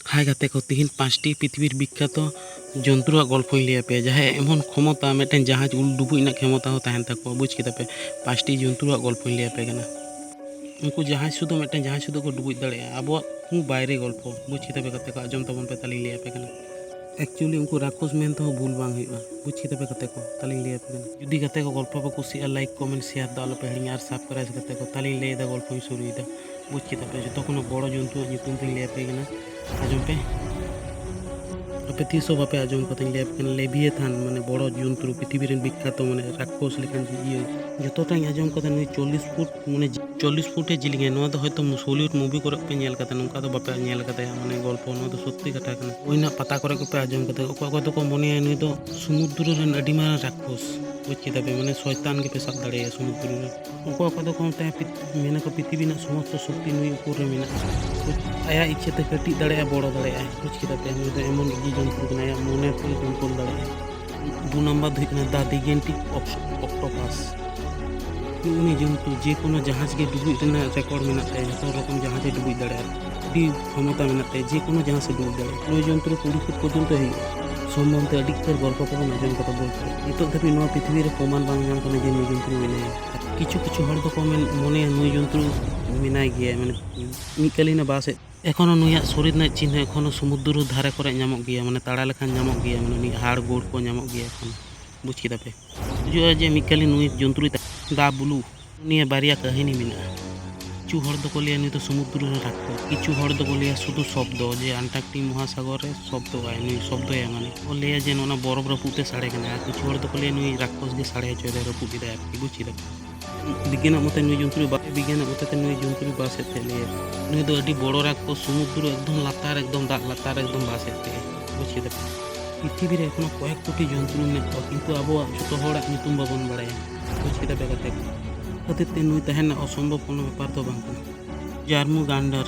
ᱦᱟᱭ ᱜᱟᱛᱮ ᱠᱚ ᱛᱤᱦᱤᱧ ᱯᱟᱸᱪᱴᱤ ᱯᱨᱤᱛᱷᱤᱵᱤᱨ ᱵᱤᱠᱠᱷᱟᱛᱚ ᱡᱚᱱᱛᱨᱩᱣᱟᱜ ᱜᱚᱞᱯᱷᱚᱧ ᱞᱟᱹᱭ ᱟᱯᱮᱭᱟ ᱡᱟᱦᱟᱸᱭᱟᱜ ᱮᱢᱚᱱ ᱠᱷᱚᱢᱚᱛᱟ ᱢᱤᱫᱴᱮᱱ ᱡᱟᱦᱟᱡᱽ ᱩᱞ ᱰᱩᱵᱩᱡ ᱨᱮᱱᱟᱜ ᱠᱷᱮᱢᱚᱛᱟ ᱦᱚᱸ ᱛᱟᱦᱮᱱ ᱛᱟᱠᱚᱣᱟ ᱵᱩᱡᱽ ᱠᱮᱫᱟ ᱯᱮ ᱯᱟᱸᱪᱴᱤ ᱡᱚᱱᱛᱨᱩᱣᱟᱜ ᱜᱚᱞᱯᱷᱚᱧ ᱞᱟᱹᱭ ᱟᱯᱮ ᱠᱟᱱᱟ ᱩᱱᱠᱩ ᱡᱟᱦᱟᱡᱽ ᱥᱩᱫᱷᱩ ᱢᱤᱫᱴᱮᱱ ᱡᱟᱦᱟᱡᱽ ᱥᱩᱫᱷᱩ ᱠᱚ ᱰᱩᱵᱩᱡ ᱫᱟᱲᱮᱭᱟᱜᱼᱟ ᱟᱵᱚᱣᱟᱜ ᱠᱚ ᱵᱟᱭᱨᱮ ᱜᱚᱞᱯᱷᱚ ᱵᱩᱡᱽ ᱠᱮᱫᱟ ᱯᱮ ᱜᱟᱛᱮ ᱠᱚ ᱟᱸᱡᱚᱢ ᱛᱟᱵᱚᱱ ᱯᱮ ᱛᱟᱦᱚᱞᱮᱧ ᱞᱟᱹᱭ ᱟᱯᱮ ᱠᱟᱱᱟ ᱮᱠᱪᱩᱭᱮᱞᱤ ᱩᱱᱠᱩ ᱨᱟᱠᱷᱚᱥ ᱢᱮᱱ ᱛᱮᱦᱚᱸ ᱵᱷᱩᱞ ᱵᱟᱝ ᱦᱩᱭᱩᱜᱼᱟ ᱵᱩᱡᱽ ᱠᱮᱫᱟ ᱯᱮ ᱜᱟᱛᱮ ᱠᱚ ᱛᱟᱦᱚᱞᱮᱧ ᱞᱟᱹᱭ ᱟᱯᱮ ᱠᱟᱱᱟ ᱡᱩᱫᱤ ᱜᱟᱛᱮ ᱠᱚ ᱜᱚᱞᱯᱷᱚ ᱯᱮ ᱠᱩᱥᱤᱭᱟᱜᱼᱟ ᱞᱟᱭᱤᱠ ᱠᱚᱢᱮᱱᱴ ᱥᱮᱭᱟᱨ ᱫᱚ ᱟᱞᱚ ᱯᱮ ᱦᱤᱲᱤᱧᱟ ᱟᱨ ᱥᱟᱵᱥᱠᱨᱟᱭᱤᱵᱽ ᱜᱟᱛᱮ ᱠᱚ ᱛᱟᱦᱚᱞᱮᱧ ᱞᱟᱹᱭᱮᱫᱟ ᱜᱚᱞᱯᱷᱚᱧ ᱥᱩᱨᱩᱭᱮᱫᱟ ᱵᱩᱡᱽ ᱠᱮᱫᱟ ᱯᱮ ᱡᱚᱛᱚ ᱠᱷᱚᱱᱟᱜ ᱵᱚᱲᱚ ᱡᱚᱱᱛᱩᱣᱟᱜ ᱧᱩᱛᱩᱢ ᱛᱤᱧ ᱞᱟᱹᱭ ᱟᱯᱮ ᱠᱟᱱᱟ ᱟᱸᱡᱚᱢ ᱯᱮ ᱟᱯᱮ ᱛᱤᱥ ᱦᱚᱸ ᱵᱟᱯᱮ ᱟᱸᱡᱚᱢ ᱠᱟᱛᱮᱧ ᱞᱟᱹᱭ ᱟᱯᱮ ᱠᱟᱱᱟ ᱞᱮᱵᱤᱭᱮᱛᱷᱟᱱ ᱢᱟᱱᱮ ᱵᱚᱲᱚ ᱡᱚᱱᱛᱨᱩ ᱯᱨᱤᱛᱷᱤᱵᱤ ᱨᱮᱱ ᱵᱤᱠᱠᱷᱟᱛᱚ ᱢᱟᱱᱮ ᱨᱟᱠᱠᱚᱥ ᱞᱮᱠᱟᱱ ᱤᱭᱟᱹ ᱡᱚᱛᱚᱴᱟᱧ ᱟᱸᱡᱚᱢ ᱠᱟᱫᱟ ᱱᱩᱭ ᱪᱚᱞᱞᱤᱥ ᱯᱷᱩᱴ ᱢᱟᱱᱮ ᱪᱚᱞᱞᱤᱥ ᱯᱷᱩᱴᱮ ᱡᱤᱞᱤᱧᱟ ᱱᱚᱣᱟ ᱫᱚ ᱦᱚᱭᱛᱳ ᱦᱚᱞᱤᱣᱩᱰ ᱢᱩᱵᱷᱤ ᱠᱚᱨᱮ ᱯᱮ ᱧᱮᱞ ᱠᱟᱫᱟ ᱱᱚᱝᱠᱟ ᱫᱚ ᱵᱟᱯᱮ ᱧᱮᱞ ᱠᱟᱫᱟ ᱢᱟᱱᱮ ᱜᱚᱞᱯᱚ ᱱᱚᱣᱟ ᱫᱚ ᱥᱚᱛᱛᱤ ᱠᱟᱛᱷᱟ ᱠᱟᱱᱟ ᱦᱩᱭ ᱨᱮᱱᱟᱜ ᱯᱟᱛᱟ ᱠᱚᱨᱮ ᱜᱮᱯᱮ ᱟᱸᱡᱚᱢ ᱠᱟᱫᱟ ᱚᱠᱚᱭ ᱚᱠᱚᱭ ᱫᱚᱠᱚ ᱢᱚᱱᱮᱭᱟ ᱱᱩᱭ ᱫᱚ ᱥᱚᱢᱩᱫᱨᱚ ᱨᱮᱱ ᱟᱹᱰᱤ ᱢᱟᱨᱟᱝ ᱨᱟᱠᱠᱚᱥ ᱵᱩᱡᱽ ᱠᱮᱫᱟ ᱯᱮ ᱢᱟᱱᱮ ᱥᱚᱭᱛᱟᱱ ᱜᱮᱯᱮ ᱥᱟᱵ ᱫᱟᱲᱮᱭᱟᱭᱟ ᱥᱚᱢᱩᱫᱨᱚ ᱨᱮ ᱚᱠᱚᱭ ᱚᱠᱚᱭ ᱫᱚᱠᱚ ᱢᱮᱛᱟᱭᱟ ᱢᱮᱱᱟᱠᱚ ᱯᱨᱤᱛᱷᱤᱵᱤ ᱨᱮᱱᱟᱜ ᱥᱚᱢᱚᱥᱛᱚ ᱥᱚᱠᱛᱤ ᱱᱩᱭ ᱩᱯᱚᱨ ᱨᱮ ᱢᱮᱱᱟᱜᱼᱟ ᱟᱭᱟᱜ ᱤᱪᱪᱷᱟᱹ ᱛᱮ ᱠᱟᱹᱴᱤᱡ ᱫᱟᱲᱮᱭᱟᱜᱼᱟ ᱵᱚᱲᱚ ᱫᱟᱲᱮᱭᱟᱜᱼᱟᱭ ᱵᱩᱡᱽ ᱠᱮᱫᱟ ᱯᱮ ᱱᱩᱭ ᱫᱚ ᱮᱢᱚᱱ ᱤᱫᱤ ᱡᱚᱱᱛᱨᱚ ᱠᱟᱱᱟᱭ ᱟᱭᱟᱜ ᱢᱚᱱᱮ ᱛᱮ ᱠᱚᱱᱴᱨᱳᱞ ᱫᱟᱲᱮᱭᱟᱜᱼᱟᱭ ᱫᱩ ᱱᱟᱢᱵᱟᱨ ᱫᱚ ᱦᱩᱭᱩᱜ ᱠᱟᱱᱟ ᱫᱟ ᱫᱤᱜᱮᱱᱴᱤᱠ ᱚᱠᱴᱳᱯᱟᱥ ᱩᱱᱤ ᱡᱚᱱᱛᱩ ᱡᱮ ᱠᱳᱱᱳ ᱡᱟᱦᱟᱡᱽ ᱜᱮ ᱰᱩᱵᱩᱡ ᱨᱮᱱᱟᱜ ᱨᱮᱠᱚᱨᱰ ᱢᱮᱱᱟᱜ ᱛᱟᱭᱟ ᱡᱚᱛᱚ ᱨᱚᱠᱚᱢ ᱡᱟᱦᱟᱡᱽ ᱮ ᱰᱩᱵᱩᱡ ᱫᱟᱲᱮᱭᱟᱜᱼᱟ ᱟᱹᱰᱤ ᱠᱷᱚᱢᱚᱛᱟ ᱢᱮᱱᱟᱜ ᱛᱟᱭᱟ ᱡᱮ ᱠᱳᱱᱳ ᱡᱟᱦᱟᱸ ᱥᱮ ᱫᱩᱲᱩᱵ ᱫᱟᱲᱮᱭᱟᱜᱼᱟ ᱯᱨᱚᱭᱳᱡᱚᱱ ᱛᱩᱨᱩ ᱠᱩᱲᱤ ᱯᱷᱩᱴ ᱯᱚᱨᱡᱚᱱᱛᱚ ᱦᱩᱭᱩᱜᱼᱟ ᱥᱚᱢᱵᱚᱱ ᱛᱮ ᱟᱹᱰᱤ ᱩᱛᱟᱹᱨ ᱜᱚᱞᱯᱚ ᱠᱚᱵᱚᱱ ᱟᱸᱡᱚᱢ ᱠᱟᱫᱟ ᱵᱚᱞ ᱠᱷᱮᱞ ᱱᱤᱛᱚᱜ ᱫᱷᱟᱹᱵᱤᱡ ᱱᱚᱣᱟ ᱯᱨᱤᱛᱷᱤᱵᱤ ᱨᱮ ᱯᱨᱚᱢᱟᱱ ᱵᱟᱝ ᱧᱟᱢ ᱠᱟᱱᱟ ᱡᱮ ᱱᱩᱭ ᱡᱚᱱᱛᱨᱩ ᱢᱮᱱᱟᱭᱟ ᱠᱤᱪᱷᱩ ᱠᱤᱪᱷᱩ ᱦᱚᱲ ᱫᱚᱠᱚ ᱢᱚᱱᱮᱭᱟ ᱱᱩᱭ ᱡᱚᱱᱛᱨᱩ ᱢᱮᱱᱟᱭ ᱜᱮᱭᱟ ᱢᱟᱱᱮ ᱢᱤᱫ ᱠᱟᱹᱞᱤᱱ ᱵᱟᱥ ᱮᱫ ᱮᱠᱷᱚᱱᱳ ᱱᱩᱭᱟᱜ ᱥᱚᱨᱤᱨ ᱨᱮᱱᱟᱜ ᱪᱤᱱᱦᱟᱹ ᱮᱠᱷᱚᱱᱳ ᱥᱚᱢᱩᱫᱨᱚ ᱫᱷᱟᱨᱮ ᱠᱚᱨᱮ ᱧᱟᱢᱚᱜ ᱜᱮᱭᱟ ᱢᱟᱱᱮ ᱛᱟᱲᱟ ᱞᱮᱠᱷᱟᱱ ᱧᱟᱢᱚᱜ ᱜᱮᱭᱟ ᱢᱟᱱᱮ ᱩᱱᱤᱭᱟᱜ ᱦᱟᱲ ᱜᱳᱲ ᱠᱚ ᱧᱟᱢᱚᱜ ᱜᱮᱭᱟ ᱮᱠᱷᱚᱱᱳ ᱵᱩᱡᱽ ᱠᱮᱫᱟ ᱯᱮ ᱵᱩᱡᱩᱜᱼᱟ ᱡᱮ ᱢᱤᱫ ᱠᱟᱞᱤ ᱱᱩᱭ ᱡᱚᱱᱛᱨᱩᱭ ᱫᱟ ᱵᱩᱞᱩ ᱱᱤᱭᱟᱹ ᱵᱟᱨᱭᱟ ᱠᱟᱹᱦᱤᱱᱤ ᱢᱮᱱᱟᱜᱼᱟ ᱠᱤᱪᱷᱩ ᱦᱚᱲ ᱫᱚᱠᱚ ᱞᱟᱹᱭᱟ ᱱᱩᱭ ᱫᱚ ᱥᱚᱢᱩᱫᱨᱚ ᱨᱮ ᱨᱟᱠᱷᱚ ᱠᱤᱪᱷᱩ ᱦᱚᱲ ᱫᱚᱠᱚ ᱞᱟᱹᱭᱟ ᱥᱩᱫᱷᱩ ᱥᱚᱵᱫᱚ ᱡᱮ ᱟᱱᱴᱟᱨᱠᱴᱤᱠ ᱢᱚᱦᱟᱥᱟᱜᱚᱨ ᱨᱮ ᱥᱚᱵᱫᱚ ᱟᱭ ᱱᱩᱭ ᱥᱚᱵᱫᱚᱭ ᱢᱟᱱᱮ ᱠᱚ ᱞᱟᱹᱭᱟ ᱡᱮ ᱱᱚᱣᱟ ᱵᱚᱨᱚᱯ ᱨᱟᱹᱯᱩᱫ ᱛᱮ ᱥᱟᱲᱮ ᱠᱟᱱᱟ ᱟᱨ ᱠᱤᱪᱷᱩ ᱦᱚᱲ ᱫᱚᱠᱚ ᱞᱟᱹᱭᱟ ᱱᱩᱭ ᱨᱟᱠᱷᱚᱥ ᱜᱮ ᱥᱟᱲᱮ ᱦᱚᱪᱚᱭᱮᱫᱟᱭ ᱨᱟᱹᱯᱩᱫ ᱮᱫᱟᱭ ᱟᱨᱠᱤ ᱵᱩᱡᱽ ᱠᱮᱫᱟ ᱯᱮ ᱵᱤᱜᱽᱜᱟᱱᱟᱜ ᱢᱚᱛᱚ ᱱᱩᱭ ᱡᱚᱱᱛᱨᱩ ᱵᱟᱭ ᱵᱤᱜᱽᱜᱟᱱᱟᱜ ᱢᱚᱛᱚ ᱛᱮ ᱱᱩᱭ ᱡᱚᱱᱛᱨᱩ ᱵᱟᱥ ᱮᱫ ᱛᱮ ᱞᱟᱹᱭᱟ ᱱᱩᱭ ᱫᱚ ᱟᱹᱰᱤ ᱵᱚᱲᱚ ᱨᱟᱠᱚ ᱥᱚᱢᱩᱫᱨᱚ ᱮᱠᱫᱚᱢ ᱞᱟᱛᱟᱨ ᱮᱠᱫᱚᱢ ᱫᱟᱜ ᱞᱟᱛᱟᱨ ᱮᱠᱫᱚᱢ ᱵᱟᱥ ᱮᱫ ᱛᱮ ᱵᱩᱡᱽ ᱠᱮᱫᱟ ᱯᱨᱤᱛᱷᱤᱵᱤ ᱨᱮ ᱮᱠᱷᱚᱱ ᱠᱚᱭᱮᱠ ᱠᱳᱴᱤ ᱡᱚᱱᱛᱨᱩ ᱢᱮᱱᱟᱜ ᱠᱚᱣᱟ ᱠᱤᱱᱛᱩ ᱟᱵᱚᱣᱟᱜ ᱡᱚᱛᱚ ᱦᱚᱲᱟᱜ ᱧᱩᱛᱩᱢ ᱵᱟᱵᱚᱱ ᱵᱟᱲᱟᱭᱟ ᱵᱩᱡᱽ ᱠᱮᱫᱟ ᱯᱮ ᱜᱟᱛᱮ ᱠᱚ ᱠᱷᱟᱹᱛᱤᱨ ᱛᱮ ᱱᱩᱭ ᱛᱟᱦᱮᱱ ᱨᱮᱱᱟᱜ ᱚᱥᱚᱢᱵᱷᱚᱵ ᱠᱳᱱᱳ ᱵᱮᱯᱟᱨ ᱫᱚ ᱵᱟᱝ ᱠᱟᱱᱟ ᱡᱟᱨᱢᱩ ᱜᱟᱱᱰᱟᱨ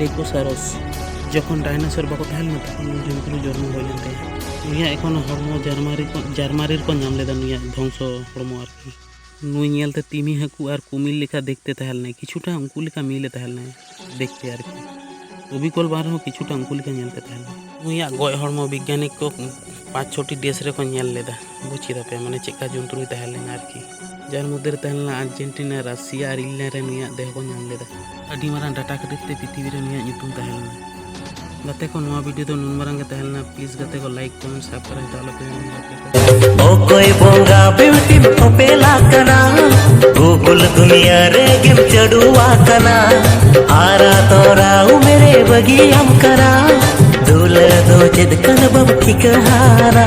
ᱰᱮᱠᱳᱥᱟᱨᱚᱥ ᱡᱚᱠᱷᱚᱱ ᱰᱟᱭᱱᱟᱥᱚᱨ ᱵᱟᱠᱚ ᱛᱟᱦᱮᱸ ᱞᱮᱱᱟ ᱛᱚᱠᱷᱚᱱ ᱱᱩᱭ ᱡᱚᱱᱛᱨᱩ ᱡᱚᱱᱢᱚ ᱦᱩᱭ ᱞᱮᱱ ᱛᱟᱭᱟ ᱱᱩᱭᱟᱜ ᱮᱠᱷᱚᱱ ᱦᱚᱲᱢᱚ ᱡᱟᱨᱢᱟᱨᱤ ᱠᱚ ᱡᱟᱨᱢᱟᱨᱤ ᱨᱮᱠᱚ ᱧᱟᱢ ᱞᱮᱫᱟ ᱱᱩᱭᱟᱜ ᱫᱷᱚᱝᱥᱚ ᱦᱚᱲᱢᱚ ᱟᱨᱠᱤ ᱱᱩᱭ ᱧᱮᱞᱛᱮ ᱛᱤᱢᱤ ᱦᱟᱹᱠᱩ ᱟᱨ ᱠᱩᱢᱤᱞ ᱞᱮᱠᱟ ᱫᱮᱠᱷᱛᱮ ᱛᱟᱦᱮᱸ ᱞᱮᱱᱟᱭ ᱠᱤᱪᱷᱩᱴᱟ ᱩᱱᱠᱩ ᱞᱮᱠᱟ ᱢᱤᱞᱮ ᱛᱟᱦᱮᱸ ᱞᱮᱱᱟᱭ ᱫᱮᱠᱷᱛᱮ ᱟᱨᱠᱤ ᱚᱵᱤᱠᱚᱞ ᱵᱟᱝ ᱨᱮᱦᱚᱸ ᱠᱤᱪᱷᱩᱴᱟ ᱩᱱᱠᱩ ᱞᱮᱠᱟ ᱧᱮᱞᱛᱮ ᱛᱟᱦᱮᱸ ᱞᱮᱱᱟᱭ ᱱᱩᱭᱟᱜ ᱜᱚᱡ ᱦᱚᱲᱢᱚ ᱵᱤᱜᱽᱜᱟᱱᱤᱠ ᱠᱚ ᱯᱟᱸᱪ ᱪᱷᱚᱴᱤ ᱫᱮᱥ ᱨᱮᱠᱚ ᱧᱮᱞ ᱞᱮᱫᱟ ᱵᱩᱡᱽ ᱠᱮᱫᱟ ᱯᱮ ᱢᱟᱱᱮ ᱪᱮᱫᱠᱟ ᱡᱚᱱᱛᱨᱩᱭ ᱛᱟᱦᱮᱸ ᱞᱮᱱᱟ ᱟᱨᱠᱤ ᱡᱟᱦᱟᱸ ᱢᱚᱫᱽᱫᱷᱮ ᱨᱮ ᱛᱟᱦᱮᱸ ᱞᱮᱱᱟ ᱟᱨᱡᱮᱱᱴᱤᱱᱟ ᱨᱟᱥᱤᱭᱟ ᱟᱨ ᱤᱝᱞᱮᱱᱰ ᱨᱮ ᱱᱩᱭᱟᱜ ᱫᱮᱦᱚ ᱠᱚ ᱧᱟᱢ ᱞᱮᱫᱟ ᱟᱹᱰᱤ ᱢᱟᱨᱟᱝ ᱰᱟᱴᱟ ᱠᱷᱟᱹᱛᱤᱨ ᱛᱮ ᱯᱨᱤᱛᱷᱤᱵᱤ ᱨᱮ ᱱᱩᱭᱟᱜ ᱧᱩᱛᱩᱢ ᱛᱟᱦᱮᱸ ᱞᱮᱱᱟ ᱜᱟᱛᱮ ᱠᱚ ᱱᱚᱣᱟ ᱵᱷᱤᱰᱤᱭᱳ ᱫᱚ ᱱᱩᱱ ᱢᱟᱨᱟᱝ ᱜᱮ ᱛᱟᱦᱮᱸ ᱞᱮᱱᱟ ᱯᱞᱤᱡᱽ ᱜᱟᱛᱮ ᱠᱚ ᱞᱟᱭᱤᱠ ᱠᱚᱢᱮᱱᱴ ᱥᱟᱵᱥᱠᱨᱟᱭᱤᱵ ᱫᱚ ᱟᱞᱚᱯᱮ ᱦᱤᱲᱤᱧᱟ ᱜᱟᱛᱮ ᱠᱚ ᱚᱠᱚᱭ ᱵᱚᱸᱜᱟ ᱵᱤᱣᱴᱤ ᱚᱯᱮᱞᱟ ᱠᱟᱱᱟ ᱜᱩᱜᱩᱞ ᱫᱩᱱᱤᱭᱟ ᱨᱮ ᱜᱮᱢ ᱪᱟᱹᱰᱩᱣᱟ ᱠᱟᱱᱟ ᱟᱨᱟ ᱛᱚᱨᱟ ᱩᱢᱮᱨᱮ ᱵᱟᱹᱜᱤᱭᱟᱢ ᱠᱟᱱᱟ ᱫᱩᱞᱟᱹ ᱫᱚ ᱪᱮᱫ ᱠᱟᱱᱟ ᱵᱟᱢ ᱴᱷᱤᱠᱟᱹ ᱦᱟᱨᱟ